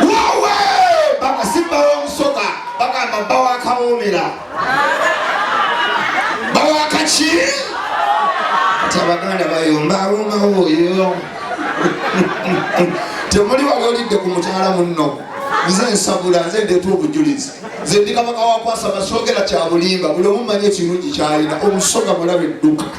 wowe bakasimba womusoga bagamba bawakawomera bawakaki ti abaganda bayomba awomawo oyo temuli wali olidde ku mukyala munno nze nsabula nze ndeeta obujulizi nze ndi kabaka wakwasa basogera kyabulimba buli omumanyi ekirungi kyalina omusoga mulabe edduka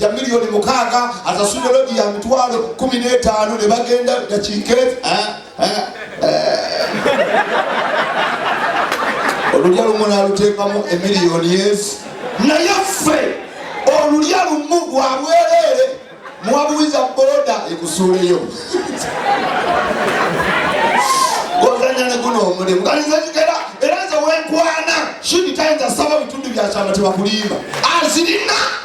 ya miliyoni mukaaga asasudde lodi ya mitwalo kumi n'etaano ne bagenda dakiika eh, eh, eh. olulya lumu n'aluteekamu emiliyoni ezi naye ffe olulya lumu lwa bwereere muwabuwiza boda ekusuuleyo ozanya ne guno omulimu kalizekigera era nze wenkwana shini tayinza saba bitundu byakyama tebakulimba azirina ah,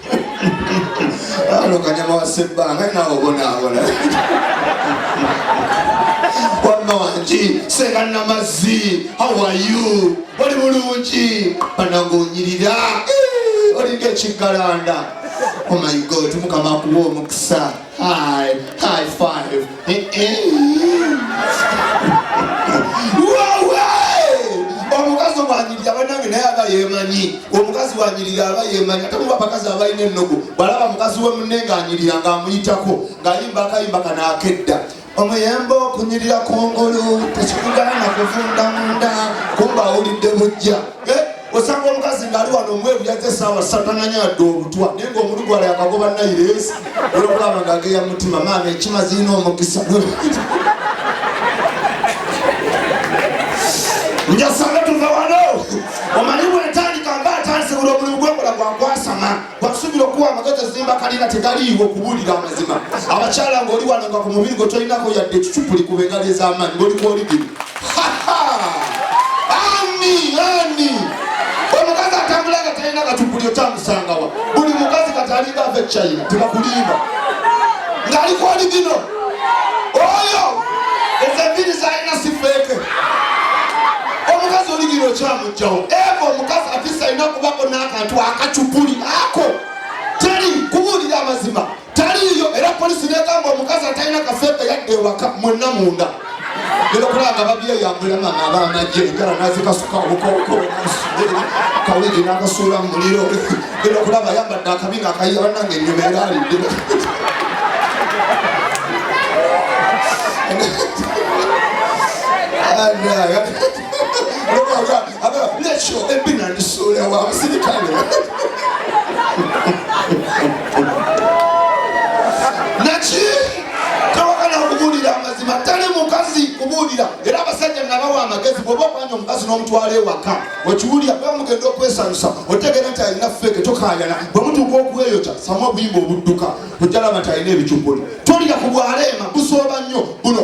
Ano kanyama wa sebbanga nawe obonaabona wamma wangi senga namazzi hawayu oli bulungi banange onyirira eh, olinga ekiggalanda omayigo oh tumukama akuba omukisa Hi, high five. omukazi omwanyirira banange naye aba yemanyi omukazi wanyirira aba yemanyi ate muba abakazi abalina ennugu balaba mukazi we munne ng'anyirira ng'amuyitako ng'ayimba akayimba kanaakedda omuyembe okunyirira kungulu tekikugaana kuvunda munda kumba awulidde bujja eh, osanga omukazi ngaali wano omweru yaze esaawa satananya adde obutwa naye nga omulu gwala yakagoba nairesi olwokulaba nga ageya mutima maama ekima zirina omukisa njasanga tuva wano omanyi bwentandika mba atanzibula omulimu gwekola gwakwasama basuubira okuwa amagezi ezimba kalina tegaliiwo kubuulira amazima abakyala ng'oli wano nga ku mubiri gwe tolinako yadde ekicupuli ku bengali ez'amaanyi ng'oli kwoligimu ani ani omukazi atambula nga talina kacupuli okyamusangawa buli mukazi katalinga ava e china tebakulimba ng'ali kwoligimu oyo ezo enviri zalina sifeeke omukazi oligira okyamugjawo eva omukazi afisa alina okubako n'akantu akacupuli ako teri kubuulira amazima taliiyo era polisi negamba omukazi atalina kafeeke yadde ewaka mwenna munda Lero kulanga babye yambula mama abaana gye ngala nazikasuka obukoko kawigi n'akasuula mu muliro lero kulaba yambadde akabina akayiya banange ennyuma era alidde Yeah. nekyo ebina ndisuula wa musirikale naki tawagala kubuulira amazima tali mukazi kubuulira era abasajja nabawa amagezi bwoba okwanya omukazi n'omutwala ewaka okiwulira bwe mugenda okwesanyusa otegeera nti alina feeke tokayana bwe mutuuka okweyokya samu obuyimba obudduka ojjalaba nti alina ebicupuli tolira ku bwaleema busooba nnyo buno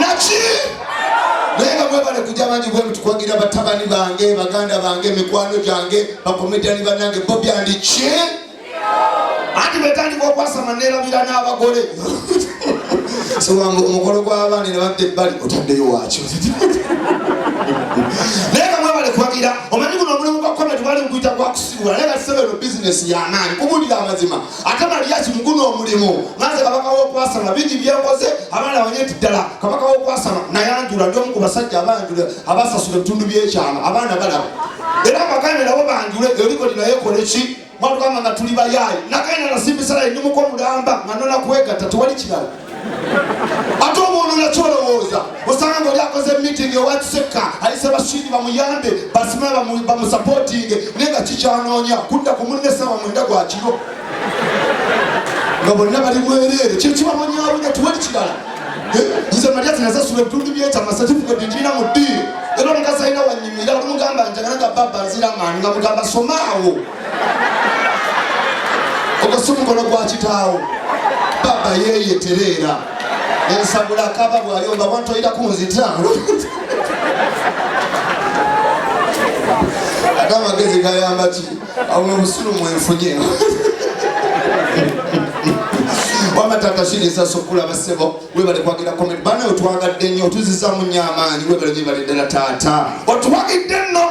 naki naye nga mwebale kujja bangi bwe mutukuwagira batabani bange baganda bange mikwano gyange bakomedani banange bobi andiki anti betandika okwasama nerabira n'abagole siwanga omukolo gw'abaana nebadde ebbali otaddeyo wakyo naye nga mwebale kuwagira omanyi guno omulimu gwa komedi bali mukuyita gwakusibula naye nga tisebeno bizinesi yamaanyi kubulira amazima akama lyaki muguno omulimu nanze kabaka wokwasama bingi byenkoze abaana banye nti ddala kabaka wokwasama nayanjula ndi omu ku basajja abanjula abasasula ebitundu byekyama abaana balaba era abaganda nabo banjule eolikolinayekola eki mwatugamba nga tuli bayaayi nakaina nasimbisalaye ndi muko mulamba nga nona kwegatta tewali kirala ate omuntu nakyolowooza osanga ngaoli akoze meeting owakisekka ayise bashidi bamuyambe basime bamusapotinge naye nga kikyanoonya kudda ku munne sawa mwenda gwakiro nga bonna bali mwereere kyekibabonyabonya tiwali kirala eh, nze malya tinazasula ebitundu byekyama satifiketi njirina mu ddiiro era omukazi alina wanyimira olumugamba njagala nga baba nzira maani nga mugamba somaawo ogwo si mukono gwa kitaawo baba yeye tereera ensabula kaba bwayomba abantu oyira kunzita ate amagezi gayamba ki awo obusiru mwenfunye wama tata shiriza sokula basebo webale kwagira komenti bana otwagadde nnyo otuzizamu nnyo amaanyi webale nyebale ddala taata otwagidde nno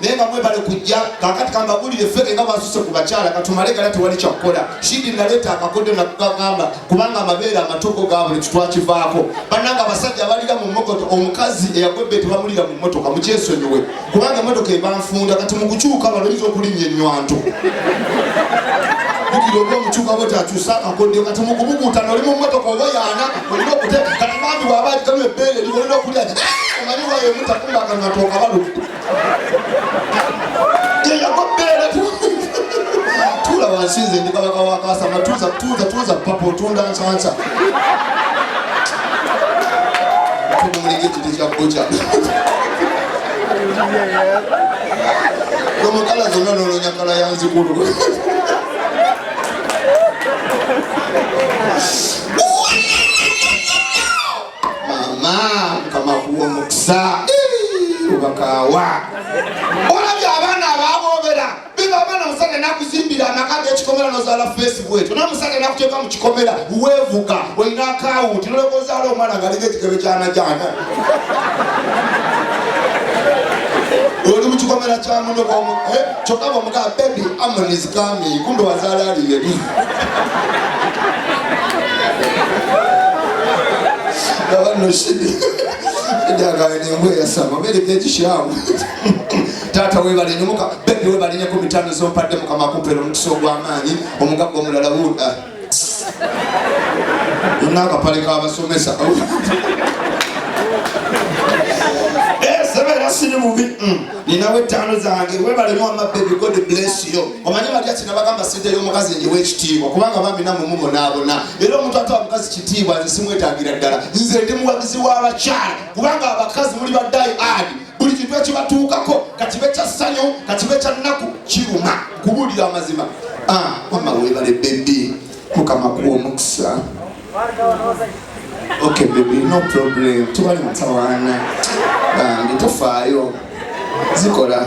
naye nga mwebale kujja kakati kambagulire feke nga bwasuse ku bakyala katumale gala tewali kyakukola shidi naleeta akakodyo nakugagamba kubanga amabeere amatuuko gabuli kitwakivaako bananga abasajja abalira mu mogoto omukazi eyagwebbe tebamulira mu motoka mukyesonyiwe kubanga emotoka ebanfunda kati mukukyuka baloyinza okulinnya enywanto bukira oba omukyuka bwe takyusa akakodyo kati mukubuguutana oli mu motoka oba yaana olina okute kati bambi bwaba aligamu ebbeere liwolina okulya omanyi wayo mutakumbakanatookabalu tula wansi nze ndi kabaka wa kasama tuza tuza tuza papa otunda nsansa tumulege kiti kya buca nomukala zonna nolonyakala yanzikulu mama mukama kuwa omukisa obakaawa olabye abaana ababoobera biba abaana musajja nakuzimbira amaka gekikomera nozala facebook ekyo naye musajja nakuteeka mu kikomera weevuga olina akawunti noleka ozaala omwana ngaliko ekigebe kyanajana oli mu kikomera kyamuno Kyokka bamugamba baby Amon is coming kumbe wazaala ali yeri. Ndaba nno shidi. Ndagaye n'embwa eyasama beereka ekishamu. Taata weebale nnyo muka bebi weebale nnyo ku mitano z'ompadde mukama akumpera omukisa ogw'amaanyi omugagga omulala wuuda. ng'akapale k'abasomesa siri mubi mm. ninawo ettaano zange webalemu amabebi god bless yo omanyi batya kinabagamba sente y'omukazi nyiwa ekitiibwa kubanga bambi namwe mubonaabona era omuntu ate omukazi kitiibwa nze simwetagira ddala nze ndi muwagizi w'abakyala kubanga abakazi muli baddayi adi buli kintu ekibatuukako kakibe kya ssanyu kakibe kya nnaku kiruma kubuulira amazima ah, mama webale bebi mukama kuwa omukisa ok bebi no problem tubali mutawaana bambi tofaayo zikola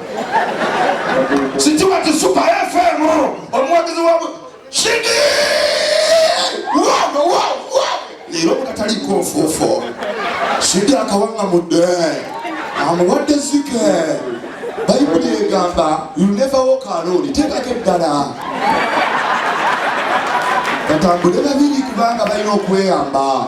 Sikiwa kisuka FM omuwagizi wa Shiki. Wao wao wao. Lero mukatali kofofo. Shiki akawanga mudde. Amuwadde zike. Bayibuli egamba you never walk alone. Tekako eddala. Batambule babiri kubanga balina okweyamba.